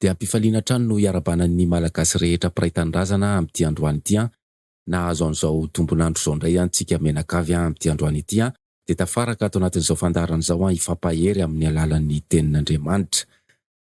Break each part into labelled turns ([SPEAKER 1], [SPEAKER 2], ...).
[SPEAKER 1] Dia am-pifaliana hatrany no iarabana ny Malagasy rehetra mpiray tanindrazana amin'ity androany ity an! Nahazo an'izao tombon'andro izao indray an tsika mianakavy an! Amin'ity androany ity an! Dia tafaraka ato anatin'izao fandaharana izao an! Hifampahery amin'ny alalan'ny Tenin'Andriamanitra.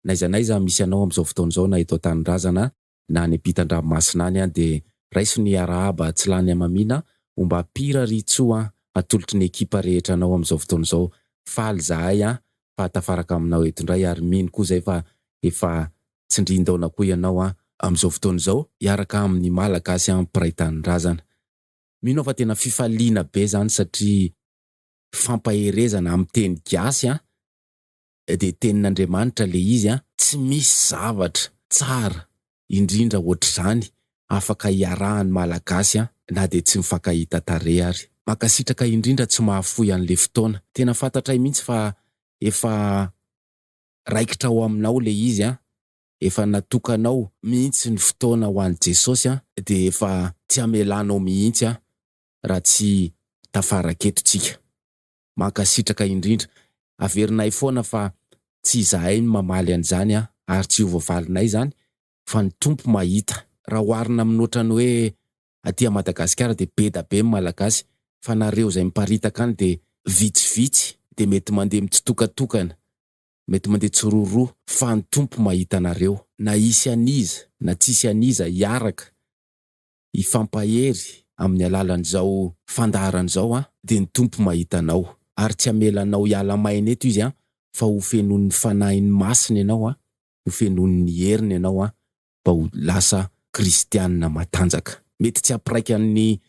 [SPEAKER 1] N'aiza n'aiza misy anao amin'izao fotoana izao na eto an-tanindrazana na any ampitan-dranomasina any an dia raiso ny arahaba tsy lany hamamiana o mba pira ry tso an atolotry ny ekipa rehetra anao amin'izao fotoana izao faly zahay an fa tafaraka aminao eto indray ary mino koa zay fa efa tsindrin-daona koa ianao an amin'izao fotoana izao hiaraka amin'ny malagasy an mpiray tanindrazana mino aho fa tena fifaliana be zany satria fampaherezana amin'ny teny gasy an. dia tenin'Andriamanitra ilay izy an! Tsy misy zavatra tsara indrindra hoatr'izany afaka hiarahan'ny Malagasy an! Na dia tsy mifankahita tarehy ary. Mankasitraka indrindra tsy mahafoy an'ilay fotoana. Tena fantatray mihitsy fa efa raikitra ao aminao ilay izy an! Efa natokanao mihitsy ny fotoana ho an'i Jesosy an! Dia efa tsy hamelanao mihitsy an! Raha tsy tafara aketo tsika. Mankasitraka indrindra. Averinay foana fa tsy izahay no mamaly an'izany ary tsy ho voavalinay izany fa ny Tompo mahita. Raha oharina amin'ny ohatran'ny hoe aty Madagasikara dia be da be ny Malagasy fa nareo izay miparitaka any dia vitsivitsy dia mety mandeha mitsitokatokana, mety mandeha tsiroroa fa ny Tompo mahita anareo. Na hisy an'iza na tsisy an'iza hiaraka hifampahery amin'ny alalan'izao fandaharana izao an, dia ny Tompo mahita anao ary tsy hamela anao hiala maina eto Izy an, fa ho fenoin'ny Fanahiny Masina ianao an, ho fenoin'ny heriny ianao an, mba ho lasa kristianina matanjaka. Mety tsy hampiraika an'ny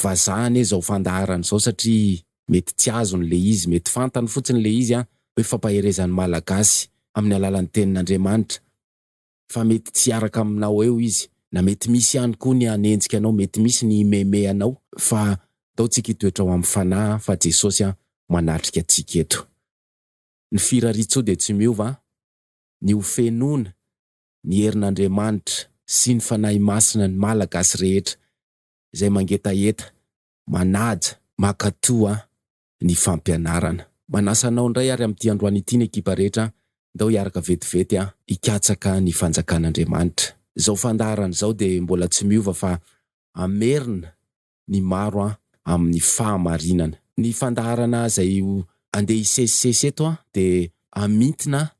[SPEAKER 1] vazaha anie izao fandaharana izao satria mety tsy azony ilay izy, mety fantany fotsiny ilay izy an, hoe fampaherezan'ny Malagasy amin'ny alalan'ny Tenin'Andriamanitra. fa mety tsy hiaraka aminao eo izy na mety misy ihany koa ny hanenjika anao mety misy ny himeme anao fa ataontsika hitoetra ao amin'ny fanahy fa Jesosy an manatrika antsika eto ny firariantsoa dia tsy miova an ny ho fenoina ny herin'Andriamanitra sy ny Fanahy Masina ny Malagasy rehetra izay mangetaheta manaja makatoa ny fampianarana. Manasa anao indray ary amin'ity androany ity ny ekipa rehetra, ndao hiaraka vetivety hikatsaka ny fanjakan'Andriamanitra. Izao fandaharana izao dia mbola tsy miova fa hamerina ny maro amin'ny fahamarinana. Ny fandaharana izay andeha hisesisesy eto dia hamintina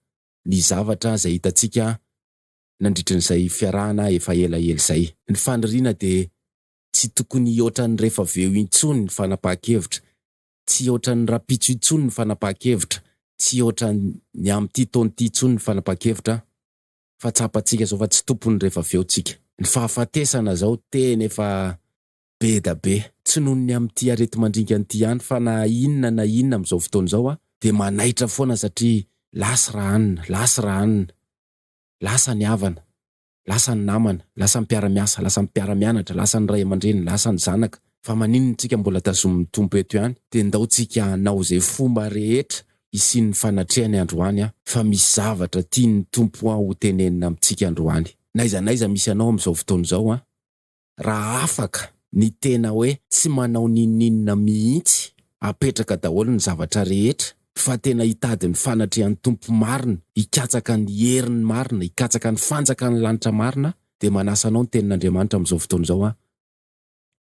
[SPEAKER 1] ny zavatra izay hitantsika nandritrin'izay fiarahana efa elaela izay. Ny faniriana dia tsy tokony hihoatra ny rehfaveo intsony ny fanapahan-kevitra, tsy hihoatra ny rahampitso intsony ny fanapahan-kevitra, tsy hihoatra ny amin'ity taona ity intsony ny fanapahan-kevitra fa tsapantsika izao fa tsy tompon'ny rehfaveo tsika. Ny fahafatesana izao tena efa be da be. Tsy noho ny amin'ity areti-mandringana ity ihany fa na inona na inona amin'izao fotoana izao dia manaitra foana satria lasa raha anona, lasa raha anona, lasa ny havana, lasa ny namana, lasa ny mpiara-miasa, lasa ny mpiara-mianatra, lasa ny ray aman-dreny, lasa ny zanaka, fa maninona tsika mbola tazomin'ny Tompo eto ihany? Dia ndao tsika hanao izay fomba rehetra hisian'ny fanatrehany androany an! Fa misy zavatra tian'ny Tompo an ho tenenina amintsika androany. N'aiza n'aiza misy anao amin'izao fotoana izao an! raha afaka ny tena hoe tsy manao n'inon'inona mihitsy, apetraka daholo ny zavatra rehetra fa tena hitady ny fanatrehan'ny Tompo marina, hikatsaka ny heriny marina, hikatsaka ny fanjakan'ny lanitra marina dia manasa anao ny tenin'Andriamanitra amin'izao fotoana izao aho,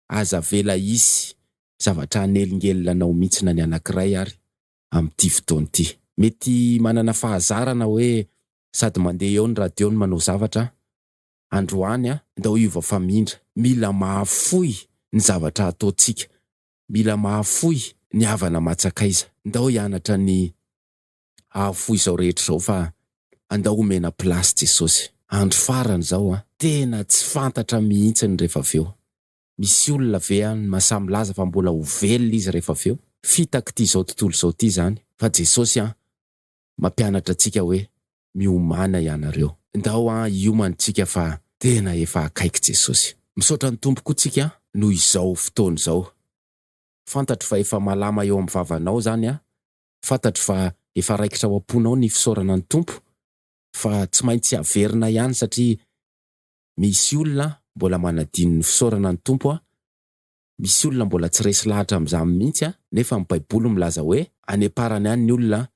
[SPEAKER 1] aza avela hisy zavatra hanelingelina anao mihitsy na ny anankiray ary amin'ity fotoana ity. Mety manana fahazarana hoe sady mandeha eo ny radio no manao zavatra androany a! Ndao hiova famindra, mila mahafoy ny zavatra ataontsika, mila mahafoy ny havana aman-tsakaiza, ndao hianatra ny hahafoy izao rehetra izao fa andao homena place Jesosy. Andro farany izao a! Tena tsy fantatra mihitsy ny rehefa avy eo. Misy olona ve any no mahasahy milaza fa mbola ho velona izy rehefa avy eo? Fitaky ity izao tontolo izao ity izany fa Jesosy a! Mampianatra antsika hoe miomana ianareo. Ndao an hiomany tsika fa tena efa akaiky Jesosy. Misaotra ny Tompo koa tsika noho izao fotoana izao. Fantatro fa efa malama eo amin'ny vavanao izany an. Fantatro fa efa raikitra ao am-ponao ny fisaorana ny Tompo fa tsy maintsy averina ihany satria misy olona mbola manadino ny fisaorana ny Tompo an. Misy olona mbola tsy resy lahatra amin'izany mihitsy an, nefa ny baiboly milaza hoe any am-parany any ny olona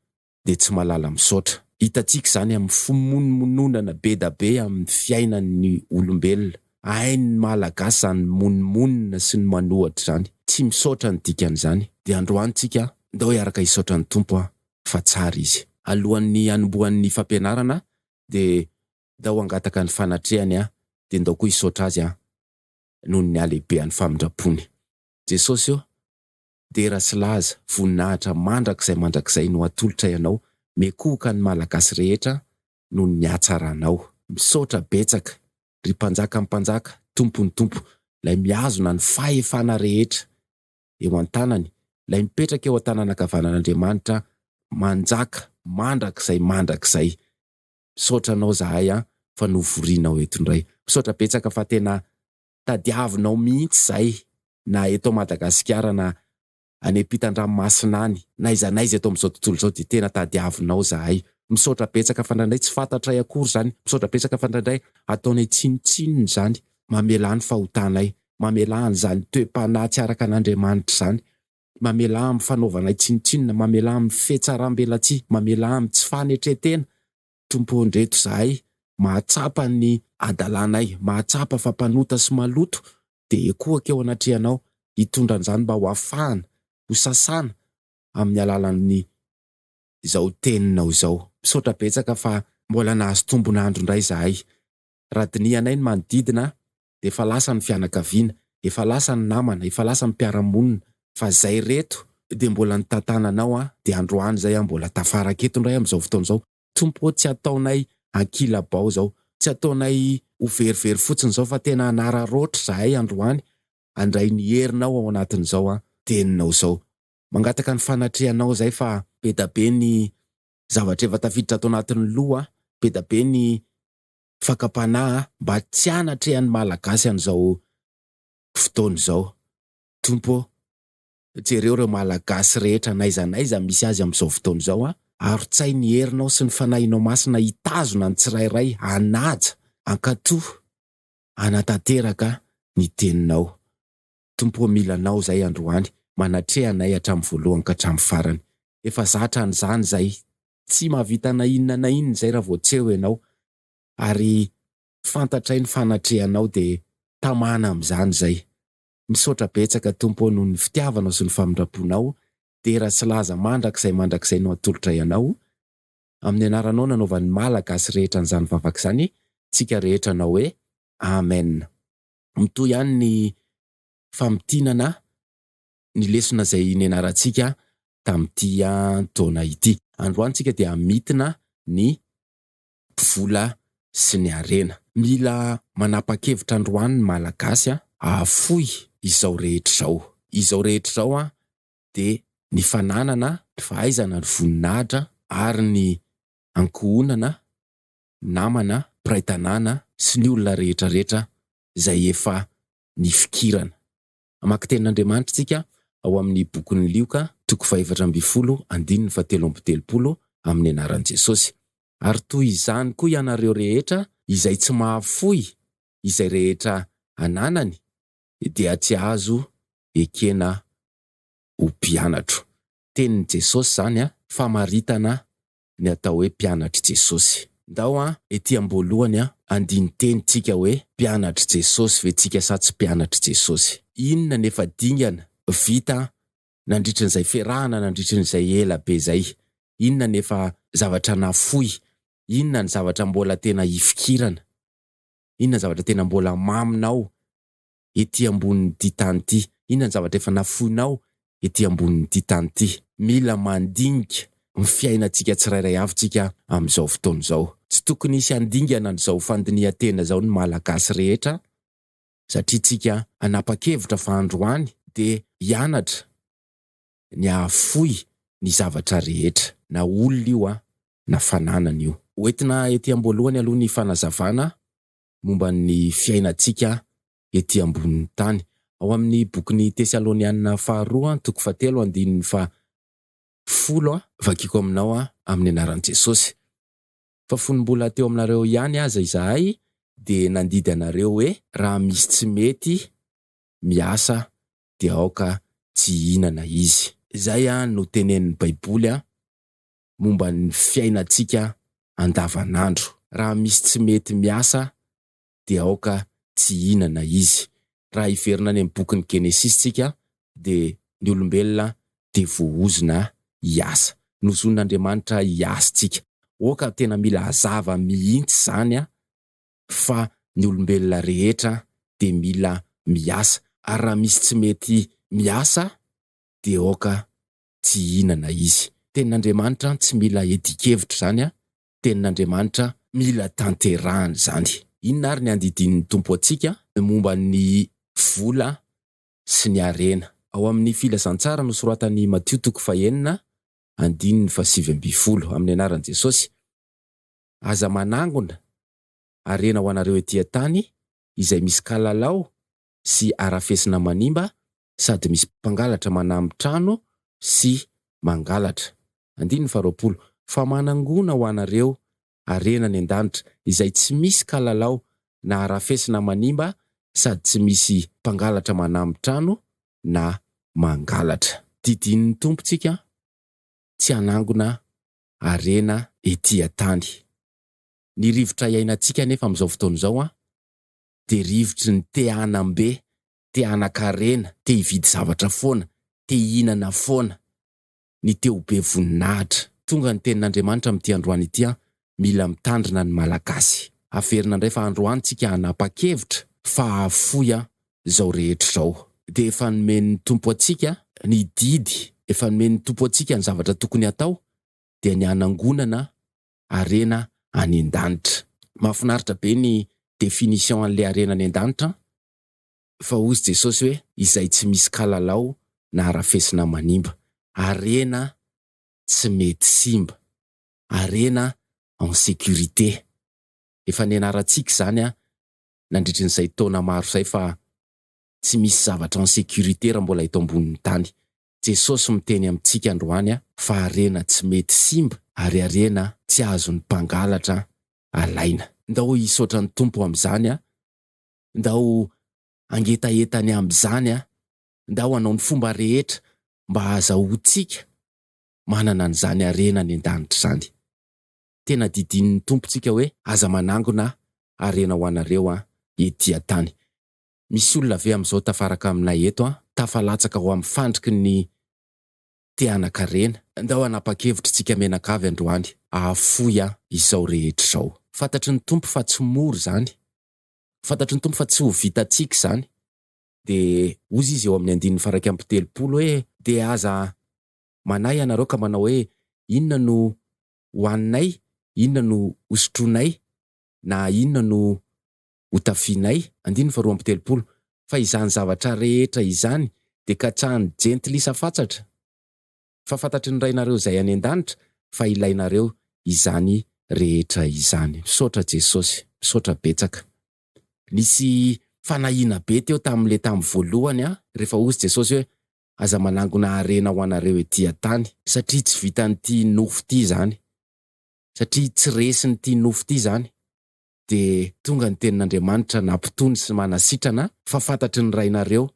[SPEAKER 1] dia tsy malala misaotra. Hitantsika izany amin'ny fimonomononana bedabe amin'ny fiainan'ny olombelona. Hain'ny malagasy izany mimonomonona sy ny manohatra izany. Tsy misaotra ny dikan'izany. Dia androany tsika ndao hiaraka hisaotra ny Tompo an, fa tsara izy. Alohan'ny hanombohan'ny fampianarana dia ndao hangataka ny fanatrehany an, dia ndao koa hisaotra azy an. noho ny halehibehan'ny famindrampony. Jesosy ô, dera sy laza, voninahitra mandrakizay mandrakizay no atolotray Anao, miekohoka ny Malagasy rehetra noho ny hatsaranao. Misaotra betsaka ry Mpanjakan'ny Mpanjaka, Tompon'ny Tompo, Ilay mihazona ny fahefana rehetra eo an-tanany, Ilay mipetraka eo an-tanan'ankavanan'Andriamanitra manjaka mandrakizay mandrakizay. Misaotra anao zahay an fa novorianao eto indray. Misaotra betsaka fa tena tadiavinao mihitsy izay na eto Madagasikara na any ampitan-dranomasina any, n'aiza n'aiza eto amin'izao tontolo izao dia tena tadiavinao zahay. Misaotra betsaka fa indraindray tsy fantatray akory izany, misaotra betsaka fa indraindray ataonay tsinontsinona izany, mamelà ny fahotanay, mamelà an'izany toe-panahy tsy araka an'Andriamanitra izany, mamelà amin'ny fanaovanay tsinontsinona, mamelà amin'ny fihetsaram-belatsihy, mamelà amin'ny tsy fanetren-tena, Tompo ô ndreto izahay mahatsapa ny hadalanay, mahatsapa fa mpanota sy maloto, dia ekoako eo anatrehanao hitondra an'izany mba ho afahana, ho sasana amin'ny alalan'ny izao teninao izao. Misaotra betsaka fa mbola nahazo tombon'andro indray izahay. Raha dinihanay ny manodidina dia efa lasa ny fianakaviana, efa lasa ny namana, efa lasa ny mpiara-monina, fa zay reto dia mbola nitatana anao an, dia androany zay an mbola tafaraka eto indray amin'izao fotoana izao, Tompo ô tsy ataonay ankilabao izao, tsy ataonay ho verivery fotsiny izao fa tena hanararaotra zahay androany, handray ny herinao ao anatin'izao an teninao izao, mangataka ny fanatrehanao zay fa bedabe ny zavatra efa tafiditra ato anatin'ny loha an, bedabe ny fakam-panahy mba tsy hanatrehan'ny Malagasy an'izao fotoana izao. Tompo ô! Jereo ireo Malagasy rehetra n'aiza n'aiza misy azy amin'izao fotoana izao an! Arotsahy ny herinao sy ny Fanahinao Masina hitazona ny tsirairay hanaja, hankatò, hanatanteraka ny Teninao. Tompo ô mila anao zay androany manatreha anay hatramin'ny voalohany ka hatramin'ny farany efa za hatran'izany zay tsy mahavita na inona na inona izay raha vao tsy eo ianao ary fantatray ny fanatrehanao de tamana amin'izany izay misaotra betsaka Tompo ô noho ny fitiavanao sy ny famindramponao dera sy laza mandrakizay mandrakizay no atolotray anao amin'ny anaranao nanaovan'ny Malagasy rehetra an'izany vavaka izany tsika rehetra anao hoe Amen. mitohy ihany ny famintinana ny lesona izay nianarantsika tamin'ity taona ity. Androany tsika dia hamintina ny vola sy ny harena. Mila manapa-kevitra androany ny Malagasy an! Hahafoy izao rehetra izao. Izao rehetra izao an dia ny fananana, ny fahaizana, ny voninahitra ary ny ankohonana namana, mpiray tanàna sy ny olona rehetra rehetra izay efa nifikirana. Hamaky tenin'Andriamanitra isika ao amin'ny bokin'i Lioka, toko fahefatra ambin'ny folo, andininy fahatelo amby telopolo, amin'ny anaran'i Jesosy. Ary toy izany koa ianareo rehetra izay tsy mahafoy izay rehetra ananany dia tsy azo ekena ho mpianatro. Tenin'i Jesosy izany, famaritana ny atao hoe mpianatr'i Jesosy. Ndao an, ety am-boalohany an, andinin-teny tsika hoe mpianatr'i Jesosy ve tsika sa tsy mpianatr'i Jesosy. Inona ny efa dingana vita nandritry n'izay fiarahana nandritry n'izay ela be izay? Inona ny efa zavatra nafoy? Inona ny zavatra mbola tena hifikirana? Inona ny zavatra tena mbola maminao? ety ambonin'ity tany ity? Inona ny zavatra efa nafoinao ety ambonin'ity tany ity? Mila mandinika ny fiainantsika tsirairay avy tsika amin'izao fotoana izao. Tsy tokony hisy handingana an'izao fandinihan-tena izao ny Malagasy rehetra satria tsika hanapa-kevitra fa androany dia hianatra ny hahafoy ny zavatra rehetra. Na olona io na fananana io. Hoentina ety amboalohany aloha ny fanazavana momba ny fiainantsika ety ambonin'ny tany. Ao amin'ny bokin'ny Tesalonianina faharoa toko fahatelo andininy faha folo vakiko aminao amin'ny anaran'i Jesosy. Fa fony mbola teo aminareo ihany aza izahay dia nandidy anareo hoe. Raha misy tsy mety miasa dia aoka tsy hihinana izy. Izay no tenenin'ny Baiboly momba ny fiainantsika andavanandro. Raha misy tsy mety miasa dia aoka tsy hihinana izy. Raha hiverina any amin'ny bokin'ny Genesisy tsika dia ny olombelona dia voahozona hiasa. Nozonin'Andriamanitra hiasa tsika. Oka tena mila hazava mihintsy zany a! Fa ny olombelona rehetra dia mila miasa. Ary raha misy tsy mety miasa dia aoka tsy hihinana izy. Tenin'Andriamanitra an tsy mila edikevitra izany an, tenin'Andriamanitra mila tanterahana izany. Inona ary ny andidian'ny Tompo antsika momba ny vola sy ny harena? Ao amin'ny Filazantsara nosoratan'i Matio toko fahenina andininy fahasivy ambin'ny folo, amin'ny anaran'i Jesosy, Aza manangona harena ho anareo ety an-tany izay misy kalalao sy arafesina manimba sady misy mpangalatra manamy trano sy mangalatra. Andininy faharoapolo, Fa manangona ho anareo harena any an-danitra izay tsy misy kalalao na arafesina manimba sady tsy misy mpangalatra manamy trano na mangalatra. Didinin'ny Tompontsika tsy hanangona harena ety an-tany. Ny rivotra iainantsika anefa amin'izao fotoana izao dia rivotry ny te hanam-be, te hanan-karena, te hividy zavatra foana, te hihinana foana, ny te ho be voninahitra. Tonga ny tenin'Andriamanitra amin'ity androany ity an! Mila mitandrina ny Malagasy. Averina indray fa androany tsika hanapa-kevitra fa hahafoy an! izao rehetra izao. Dia efa nomen'ny Tompo antsika ny didy, efa nomen'ny Tompo antsika ny zavatra tokony hatao dia ny hanangonana harena any an-danitra. Mahafinaritra be ny définition an'le harena any an-danitra an! Fa hozy Jesosy hoe izay tsy misy kalalao na harafesina manimba. Harena tsy mety simba. Harena en sécurité. Efa nianarantsika izany an! Nandritry ny izay taona maro izay fa tsy misy zavatra en sécurité raha mbola eto ambonin'ny tany. Jesosy miteny amintsika androany a! Fa harena tsy mety simba ary harena tsy azon'ny mpangalatra alaina. Ndao hisaotra ny Tompo amin'izany a! Ndao hangetaheta ny amin'izany a! Ndao hanao ny fomba rehetra mba hahazahoantsika manana an'izany harena any an-danitra izany. Tena didinin'ny Tompo tsika hoe aza manangona harena ho anareo an, ety an-tany. Misy olona ve amin'izao tafaraka aminay eto an, tafalatsaka ao amin'ny fandriky ny te-hanan-karena? Ndao hanapa-kevitry tsika menaka avy androany hahafoy an izao rehetra izao. Fantatry ny Tompo fa tsy mora izany. Fantatry ny Tompo fa tsy ho vitantsika izany. Dia hozy Izy eo amin'ny andininy faha iraika amby telopolo hoe, Dia aza manahy ianareo ka manao hoe, Inona no hohaninay? Inona no hosotroinay? Na inona no hotafianay, andininy faharoa amby telopolo, fa izany zavatra rehetra izany dia katsahan'ny jentilisa fatsatra, fa fantatry ny Rainareo izay any an-danitra fa ilainareo izany rehetra izany. Misaotra Jesosy, misaotra betsaka. Nisy fanahiana be teo tamin'ilay tamin'ny voalohany an, rehefa hozy Jesosy hoe, Aza manangona harena ho anareo ety an-tany. Satria tsy vitan'ity nofo ity izany. Satria tsy resin'ity nofo ity izany. dia tonga ny tenin'Andriamanitra nampitony sy manasitrana ahy fa fantatry ny Rainareo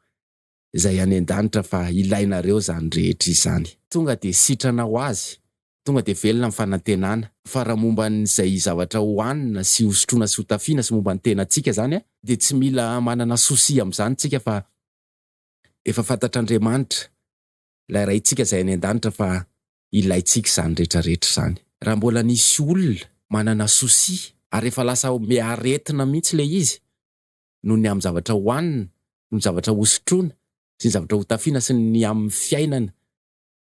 [SPEAKER 1] Izay any an-danitra fa ilainareo izany rehetra izany. Tonga dia sitrana ho azy, tonga dia velona ny fanantenana, fa raha momba an'izay zavatra ho hanina sy hosotroina sy hotafiana sy momba ny tenantsika izany dia tsy mila manana souci amin'izany isika fa efa fantatr'Andriamanitra, ilay Raintsika Izay any an-danitra fa ilaintsika izany rehetra rehetra izany. Raha mbola nisy olona manana souci ary efa lasa be aretina mihitsy ilay izy noho ny amin'ny zavatra hohanina, noho ny zavatra hosotroina sy ny zavatra hotafiana sy ny amin'ny fiainana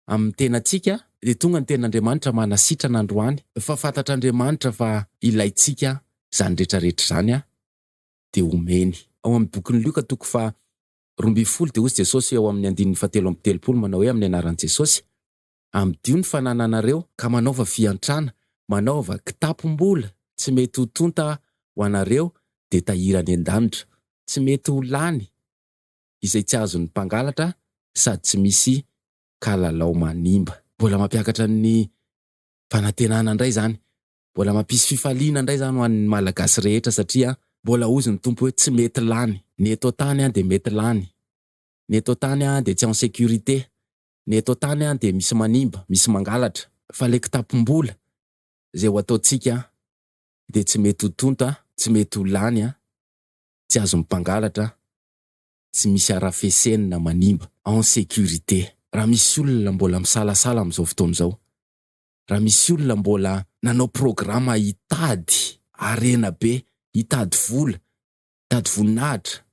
[SPEAKER 1] amin'ny tenantsika dia tonga ny ten'Andriamanitra manasitrana androany fa fantatr'Andriamanitra fa ilaintsika izany rehetra rehetra izany dia homeny. Ao amin'ny bokin'i Lioka toko faha roa ambin'ny folo dia hoy Jesosy eo amin'ny andininy fahatelo amby telopolo manao hoe amin'ny anaran'i Jesosy, amidio ny fanananareo, ka manaova fiantrana, manaova kitapom-bola tsy mety ho tonta ho anareo dia tahiry any an-danitra, tsy mety ho lany izay tsy azon'ny mpangalatra sady tsy misy kalalao manimba. Mbola mampiakatra ny fanantenana indray izany Mbola mampisy fifaliana indray izany ho an'ny Malagasy rehetra satria mbola hozy ny Tompo hoe tsy mety lany. Ny eto an-tany dia mety lany. Ny eto an-tany dia tsy en sécurité. Ny eto an-tany dia misy manimba, misy mangalatra. Fa ilay kitapom-bola izay ho ataontsika dia tsy mety ho tonta, tsy mety ho lany, tsy azon'ny mpangalatra, tsy misy harafeseny na manimba, en sécurité. Raha misy olona mbola misalasala amin'izao fotoana izao raha misy olona mbola nanao programa hitady harena be, hitady vola, hitady voninahitra,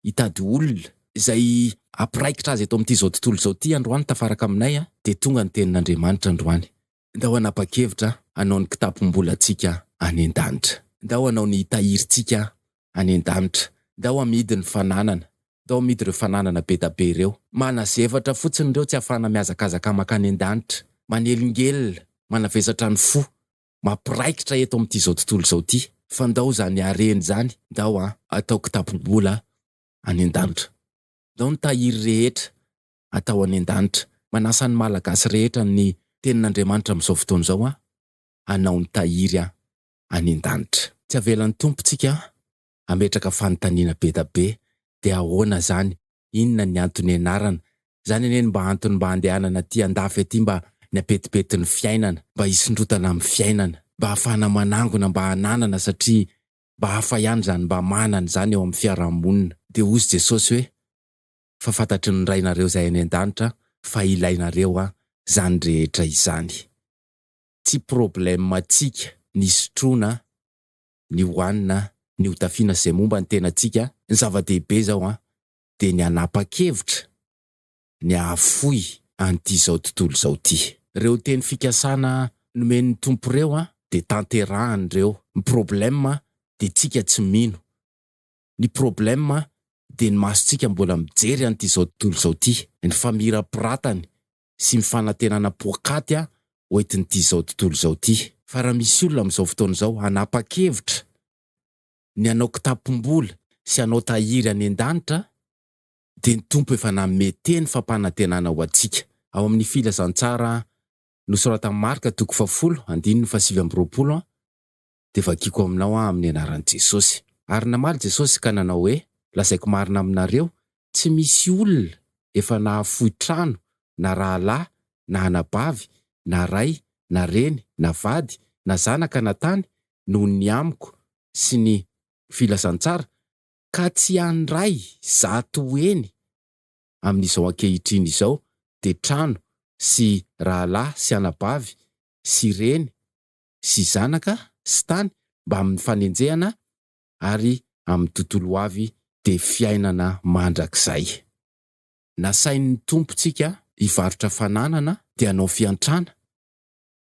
[SPEAKER 1] hitady olona, izay hampiraikitra azy eto amin'ity izao tontolo izao ity androany tafaraka aminay a, dia tonga ny tenin'Andriamanitra androany, ndao hanapa-kevitra hanao ny kitapom-bolantsika any an-danitra, ndao hanao ny tahirintsika any an-danitra, ndao hamidy ny fananana, tao amidreo fananana bedabe ireo. Manazevatra fotsiny ireo tsy afahana mihazakazaka mankany an-danitra, manelingelina, manavesatra ny fo, mampiraikitra eto amin'ity izao tontolo izao ity. Fa ndao izany hareny izany ndao an atao kitapo-bola any an-danitra. Ndao ny tahiry rehetra atao any an-danitra. Manasa ny Malagasy rehetra ny Tenin'Andriamanitra amin'izao fotoana izao an, hanao ny tahiry any an-danitra. Tsy avelan'ny Tompo tsika ametraka fanontaniana beda be de ahoana zany inona ny anto nianarana zany anie ny mba antony mba andehanana aty andafy aty mba ny apetipety ny fiainana mba hisondrotana amin'ny fiainana mba hafahana manangona mba hananana satria mba hafa ihany zany mba manana zany eo amin'ny fiarahamonina de ozy jesosy hoe fa fantatry ny rainareo zay any andanitra fa ilainareo a zany rehetra izany tsy probleme tsika ny sotroana ny hohanina, ny hotafiana sy izay momba ny tenantsika. Ny zava-dehibe izao an, dia ny hanapa-kevitra ny hahafoy an'ity izao tontolo izao ity. Ireo teny fikasana nomen'ny Tompo ireo an, dia tanterahany ireo. Ny problème an, dia tsika tsy mino. Ny problème an, dia ny masontsika mbola mijery an'ity izao tontolo izao ity. Ny famirapiratany sy ny fanantenana poakaty ho entin'ity izao tontolo izao ity. Fa raha misy olona amin'izao fotoana izao hanapa-kevitra ny hanao kitapom-bola sy hanao tahiry any an-danitra dia ny Tompo efa nanome teny fampanantenana ho antsika ao amin'ny Filazantsara nosoratan'i Marka toko fahafolo, andininy fahasivy amby roapolo, dia vakiako aminao aho amin'ny anaran'i Jesosy. Ary namaly Jesosy ka nanao hoe, Lazaiko marina aminareo, tsy misy olona efa nahafoy trano, na rahalahy, na anabavy, na ray, na reny, na vady, na zanaka, na tany, noho ny amiko sy ny filazantsara, ka tsy handray zato heny amin'izao ankehitriny izao, dia trano, sy rahalahy, sy anabavy, sy reny, sy zanaka sy tany mbamin'ny fanenjehana ary amin'ny tontolo ho avy dia fiainana mandrakizay. Nasain'ny Tompontsika hivarotra fananana dia hanao fiantrana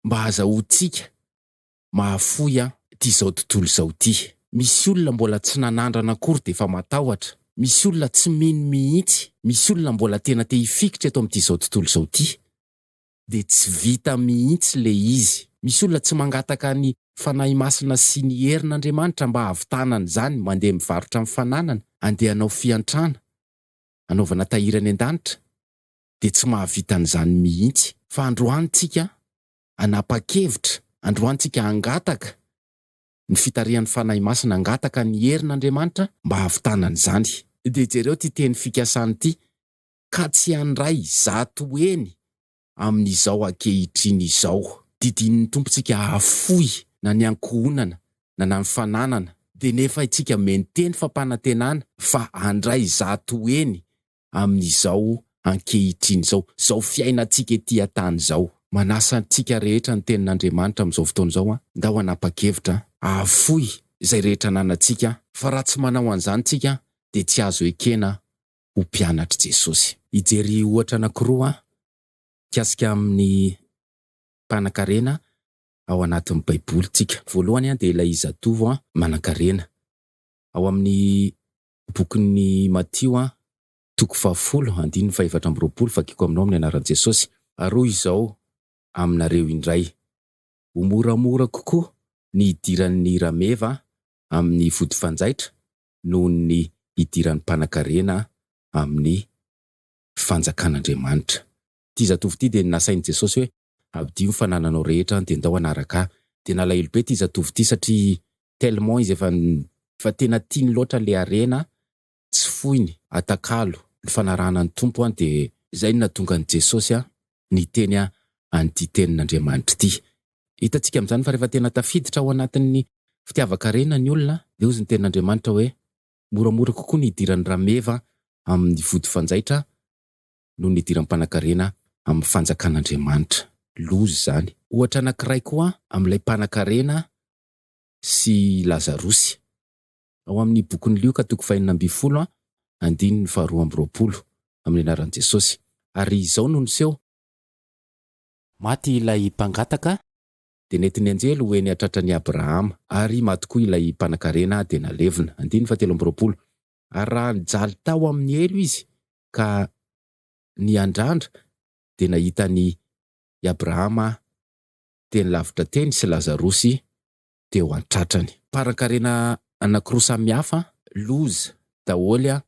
[SPEAKER 1] mba hazahoantsika mahafoy an'itizao tontolo izao ity. Misy olona mbola tsy nanandrana akory dia efa matahotra, misy olona tsy mino mihitsy, misy olona mbola tena te hifikitra eto amin'itizao tontolo izao ity. dia tsy vita mihitsy le izy. Misy olona tsy mangataka ny Fanahy Masina sy ny herin' Andriamanitra mba hahavitana an'izany, mandeha mivarotra ny fananana, andeha hanao fiantrana, hanaovana tahiry any an-danitra, dia tsy mahavita an'izany mihitsy. Fa androany tsika hanapa-kevitra, androany tsika hangataka ny fitarihan'ny Fanahy Masina, hangataka ny herin' Andriamanitra mba hahavitana an'izany. Dia jereo ity teny fikasana ity, ka tsy handray zato heny amin'izao ankehitriny izao. Didinin'ny Tompontsika hahafoy na ny ankohonana na na ny fananana, dia nefaintsika menteny fampanantenana fa handray zato heny amin'izao ankehitriny izao, izao fiainantsika ety an-tany izao. Manasa antsika rehetra ny Tenin'Andriamanitra amin'izao fotoana izao, Ndao hanapa-kevitra hahafoy izay rehetra ananantsika, fa raha tsy manao an'izany isika dia tsy azo ekena ho mpianatr'i Jesosy. Hijery ohatra anankiroa aho mikasika amin'ny mpanankarena ao anatin'ny Baiboly tsika. Voalohany dia ilay zatovo manankarena. Ao amin'ny bokin'i Matio, toko fahafolo, andininy fahefatra amby roapolo, Vakiko aminao amin'ny anaran'i Jesosy. Arohy izao aminareo indray. Ho moramora kokoa ny hidiran'ny rameva amin'ny vodifanjaitra noho ny idiran'ny mpanankarena amin'ny Fanjakan'Andriamanitra. Ity zatovo ity dia nasain'i Jesosy hoe, Abidio ny fanananao rehetra dia ndao hanaraka ahy. Dia nalahelo be ity zatovo ity satria tellement izy efa efa tena tiany loatra ilay harena tsy foiny, atakalo, ny fanarahana ny Tompo an dia izay no nahatonga an'i Jesosy niteny an'ity tenin'Andriamanitra ity, Hitantsika amin'izany fa rehefa tena tafiditra ao anatin'ny fitiavan-karena ny olona, dia hozy ny Tenin'Andriamanitra hoe, Moramora kokoa ny hidiran'ny rameva amin'ny vody fanjaitra noho ny hidiran'ny mpanankarena amin'ny fanjakan'Andriamanitra. Loza izany. Ohatra anankiray koa amin'ilay mpanankarena sy Lazarosy, ao amin'ny bokin'i Lioka toko fahenina ambin'ny folo, andininy faharoa amby roapolo, amin'ny anaran'i Jesosy, Ary izao no niseho, Maty ilay mpangataka, dia nentin'ny anjely ho eny an-tratran'i Abrahama, ary maty koa ilay mpanankarena, dia nalevina. Andininy fahatelo amby roapolo. Ary raha nijaly tao amin'ny helo izy ka niandrandra, dia nahita an' i Abrahama teny lavitra teny sy Lazarosy teo an-tratrany. Mparankarena anankiroa samihafa, loza daholo an!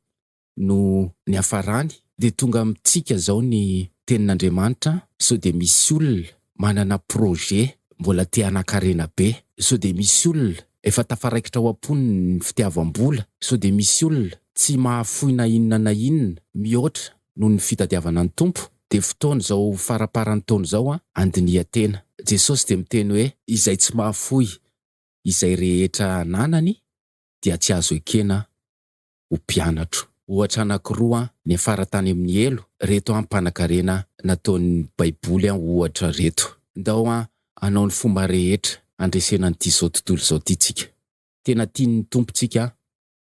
[SPEAKER 1] no niafarany dia tonga amintsika zao ny tenin'Andriamanitra sao dia misy olona manana projet mbola te hanakarena be, sao dia misy olona efa tafaraikitra ao am-pony ny fitiavam-bola, sao dia misy olona tsy mahafoy na inona na inona mihoatra noho ny fitadiavana ny Tompo, dia fotoana zao faramparan'ny taona zao an andiniha tena, Jesosy dia miteny hoe izay tsy mahafoy izay rehetra ananany dia tsy azo ekena ho mpianatro. Ohatra anankiroa niafara tany amin'ny helo reto ampanankarena nataon'ny baiboly ohatra reto. Ndao hanao ny fomba rehetra handresena an'ity zao tontolo zao ty tsika. Tena tian'ny Tompo tsika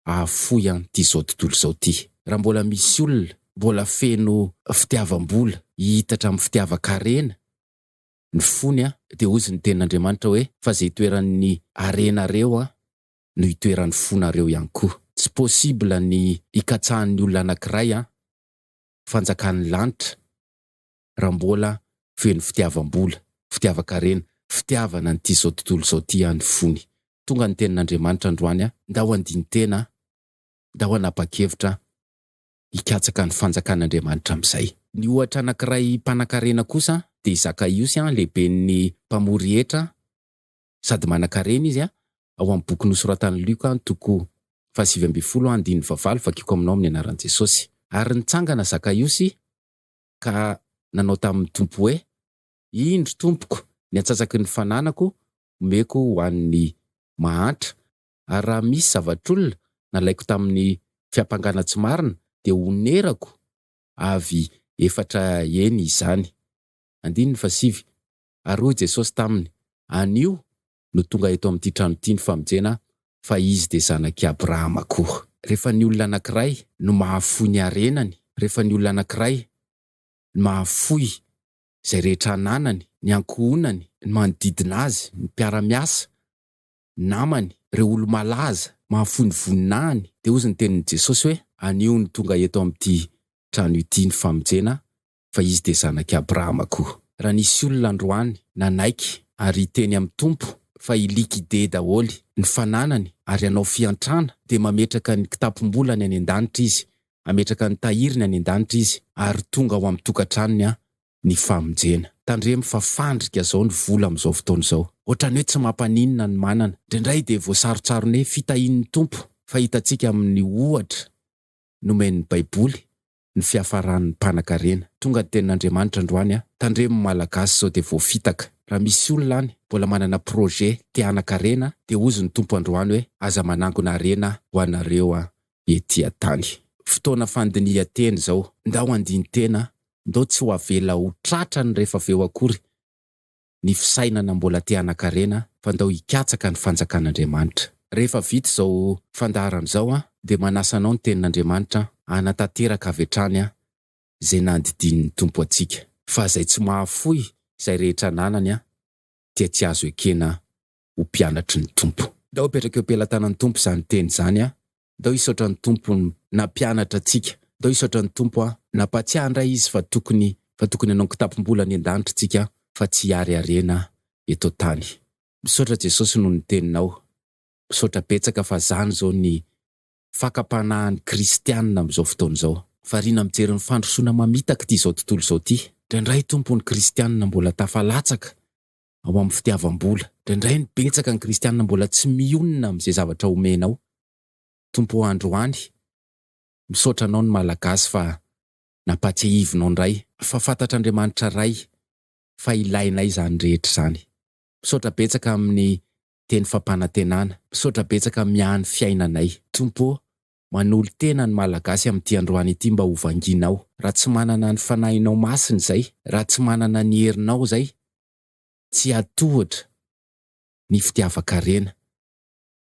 [SPEAKER 1] hahafoy an'ity zao tontolo zao ty. Raha mbola misy olona mbola feno fitiavam-bola hihitatra amin'ny fitiavan-karena ny fony dia hozy ny tenin'Andriamanitra hoe fa ze itoeran'ny harena reo no itoeran'ny fonareo ihany koa. Tsy possible ny hikatsahan'ny olona anakiray an fanjakan'ny lanitra raha mbola feno fitiavam-bola, fitiavan-karena, fitiavana an'ity zao tontolo zao ty an ny fony. Tonga ny tenin'Andriamanitra androany an. Ndao handini-tena an, ndao hanapa-kevitra an, hikatsaka ny fanjakan'Andriamanitra amin'izay. Ny ohatra anakiray mpanan-karena kosa an dia i Zakaiosy an, lehiben'ny mpamory hetra an, sady manan-karena izy an, ao amin'ny boky nosoratan'i Lioka an, toko fahasivy ambin'ny folo an, andininy fahavalo, Vakiko aminao amin'ny anaran'i Jesosy. Ary nitsangana Zakaiosy ka nanao tamin'ny Tompo hoe, Indro, Tompoko, ny antsatsaky ny fananako omeko ho an'ny mahantra, ary raha misy zavatr'olona nalaiko tamin'ny fiampangana tsy marina dia honerako avy efatra heny izany. Andininy fahasivy, Ary hoy Jesosy taminy, Anio no tonga eto amin'ity trano ity ny famonjena, fa izy dia zanak'i Abrahama koa. Rehefa ny olona anankiray no mahafoy ny harenany, rehefa ny olona anankiray no mahafoy izay rehetra ananany, ny ankohonany, ny manodidina azy, ny mpiara-miasa, ny namany, ireo olo-malaza, mahafoy ny voninahiny, dia hozy ny tenin'i Jesosy hoe, Anio no tonga eto amin'ity trano ity ny famonjena, fa izy dia zanak'i Abrahama koa. Raha nisy olona androany nanaiky ary hiteny amin'ny Tompo fa i liquide daholo ny fananany ary hanao fiantrana dia mametraka ny kitapom-bolany any an-danitra izy, hametraka ny tahiriny any an-danitra izy ary tonga ao amin'ny tokantranony an ny famonjena. Tandremo fa fandrika zao ny vola amin'izao fotoana izao. Ohatran'ny hoe tsy mampaninona ny manana. Indraindray dia voasarontsaron'ny hoe fitahian'ny Tompo fa hitantsika amin'ny ohatra nomen'ny Baiboly ny fiafaran'ny mpanakarena. Tonga ny tenin'Andriamanitra androany an! Tandremo Malagasy sao dia voafitaka. Raha misy olona any mbola manana projet te hanakarena dia hozy ny Tompo androany hoe aza manangona harena ho anareo an! Ety an-tany. Fotoana fandinihan-tena izao. Ndao handini-tena, ndao tsy ho avela ho tratrany rehefa avy eo akory. ny fisainana mbola te hanakarena fa ndao hikatsaka ny fanjakan'Andriamanitra. Rehefa vita izao fandaharana izao aho dia manasa anao ny tenin'Andriamanitra hanatanteraka avy hatrany izay nandidian'ny Tompo antsika. Fa izay tsy mahafoy izay rehetra ananany dia tsy azo ekena ho mpianatry ny Tompo. Ndao apetraka eo pelatanan'ny Tompo izany teny izany an! Ndao hisaotra ny Tompo nampianatra antsika, ndao hisaotra ny Tompo an! Nampahatsiahy indray Izy fa tokony fa tokony hanao ny kitapom-bola any an-danitra isika fa tsy hiariariana eto an-tany. Misaotra Jesosy noho ny Teninao. Misaotra betsaka fa izany izao ny fakam-panahin'ny kristianina amin'izao fotoana izao. Variana mijery ny fandrosoana mamitaka ity izao tontolo izao ity. Indraindray Tompo ny kristianina mbola tafalatsaka ao amin'ny fitiavam-bola. Indraindray no betsaka ny kristiana mbola tsy mionona amin'izay zavatra omenao Tompo o androany, misaotra anao ny Malagasy fa nampatsiahivinao indray fa fantatr'Andriamanitra Ray fa ilainay izany rehetra izany. Misaotra betsaka amin'ny teny fampanantenana. Misaotra betsaka miahy ny fiainanay. Tompo ô, Manolo-tena ny Malagasy amin'ity androany ity mba ho vangianao. Raha tsy manana ny Fanahinao Masina izay, raha tsy manana ny herinao izay, tsy hiady tohatra ny fitiavan-karena.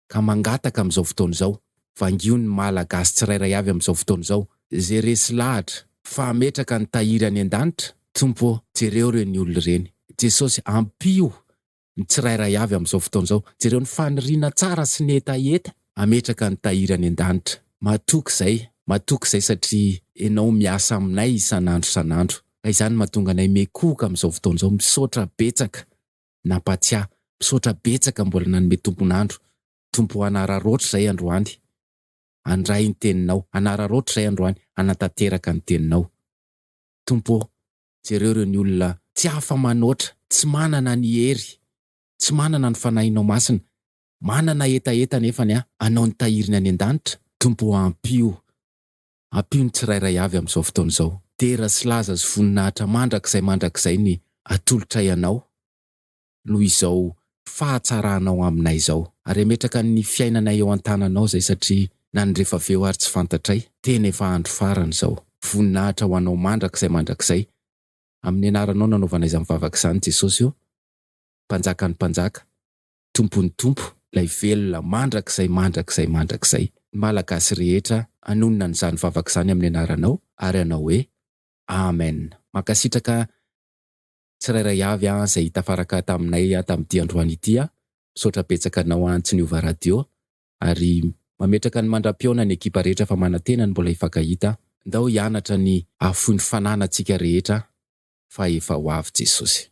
[SPEAKER 1] Ka mangataka amin'izao fotoana izao, vangio ny Malagasy tsirairay avy amin'izao fotoana izao, izay resy lahatra fa hametraka ny tahiry any an-danitra, Tompo ô, jereo ireny olona ireny. Jesosy ampio ny tsirairay avy amin'izao fotoana izao. Jereo ny faniriana tsara sy ny hetaheta hametraka an'i Tahiry any an-danitra. Matoky izay, matoky izay satria ianao miasa aminay isan'andro isan'andro. Ka izany mahatonga anay miekohoka amin'izao fotoana izao. Misaotra betsaka nampatsiahy, misaotra betsaka mbola nanome tompon'andro. Tompo hanararaotra izay androany handray ny teninao, hanararaotra izay androany hanatanteraka ny teninao. Tompo ô, Jereo ireo ny olona tsy afa-manoatra, tsy manana ny hery, tsy manana ny Fanahinao Masina, manana hetaheta anefa ny hanao ny tahiriny any an-danitra. Tompo ô, ampio, ampio ny tsirairay avy amin'izao fotoana izao. Dera sy laza sy voninahitra mandrakizay mandrakizay ny atolotray Anao. noho izao fahatsaranao aminay izao. Ary hametraka ny fiainanay eo an-tananao izay satria na ny rehefa avy eo ary tsy fantatray, tena efa andro farany izao. Voninahitra ho anao mandrakizay mandrakizay. Amin'ny anaranao nanaovana izany vavaka izany Jesosy ô. Mpanjakan'ny mpanjaka, Tompon'ny tompo, ilay velona mandrakizay mandrakizay mandrakizay. Ny Malagasy rehetra hanonona an'izany vavaka izany amin'ny anaranao ary hanao hoe Amen. Mankasitraka tsirairay avy an zay tafaraka taminay an tamity androany ity an, misaotra betsaka anao an tsy niova radio ary mametraka ny mandra-pihaona ny ekipa rehetra fa manantena ny mbola hifankahita an. Ndao hianatra ny hahafoy ny fanana tsika rehetra fa efa ho avy Jesosy.